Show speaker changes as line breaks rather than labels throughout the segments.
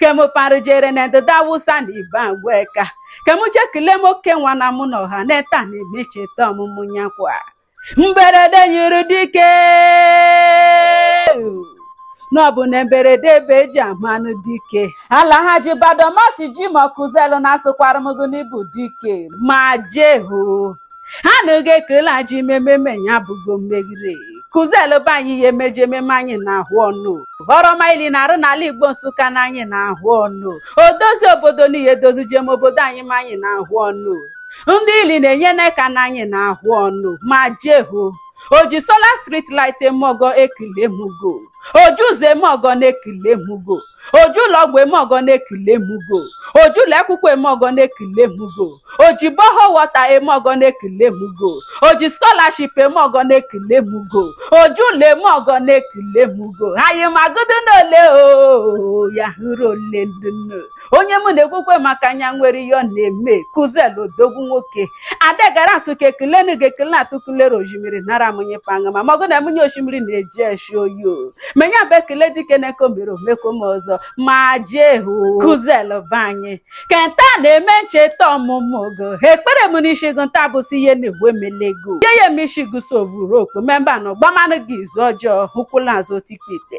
ke mụ parụ jere na ndịda awụsa na ibagwa eka ka mụ je kele m oke nwa na mụ na ọha na-eta na-eme ncheta ọmụmụ ya kwa mberede nyiri dike na ọ bụ na mberede ebe eji amanụ dike alhaji badomasi jimoh kụzelu na asụkwara m gị n'ị bụ dike ma jehu ha anaghị ekele eji eme mmeme ya bụgo mmegide kụzelu be anyị ihe emeji ememe anyị na-ahụ ọnụ ọrụ ọma ili na-arụ n'ala igbo nsụka na anyị na-ahụ ọnụ odozi obodo n'ihe edozi jem obodo anyị ma anyị na-ahụ ọnụ ndị ili na-enye n'aka na anyị na-ahụ ọnụ ma jehu oji solar street light eme ọgọ ekele m go oji ụzọ eme ọgọ na-ekele m go oji ụlọ ọgwụ eme ọgọ na-ekele m go oji ụlọ akwụkwọ eme ọgọ na-ekele m go oji borehole water eme ọgọ na-ekele m go oji scholarship eme ọgọ na-ekele m go oji ụlọ eme ọgọ na-ekele m go anyị ma gụdo n'ole o ya hụrụ ole ndụ nne. onye mụ na-ekwukwe maka nya nwere ihe ọ na-eme kụzelu odogwu nwoke ada gara asụ ka ekelenu ga ekele na atụkụlere osimiri nara munyi panga ma magụ na munyi osimiri na-eji eshi oyi o menye bụ ekele dike na nke o mere o meko m ọzọ ma jee hụ kụzelu be anyị kenta na-eme ncheta ọmụmụ go ekpere m n'isi gụ nta bụ sị ihe na-egbu emelego ihe ya eme isi gụso ovuru okpo memba na ọgbamanụ gị izu ọjọọ ụkwụ laa azụ otikpite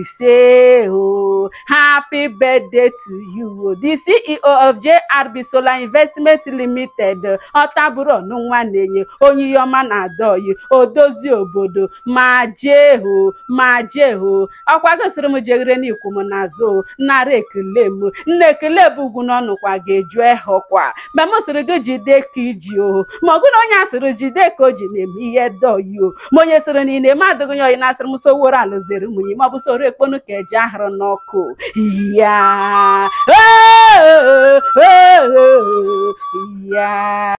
ise o happy birthday to you o the ceo of jrb solar investment limited ọtabụrụ ọnụ nwa na-enye onye ihe ọma na-adị ọyị odozi obodo ma jee o ma jee o ọkwa go sịrị m jeghere n'ikwu m n'azụ nara ekele m nna ekele bụ ugwu n'ọnụkwa ga-eju ehọkwa ma m sịrị gị jide ka iji o ma ọ gụna onye a sịrị jide ka o ji na-eme ihe dị ọyị o ma onye sịrị na ihe ị na-eme adịghị nya ọyị na asịrị m soworo alụziri munyi ma ọ bụ soro ekponu ka eji ahụrụ n'ọkụ ya ya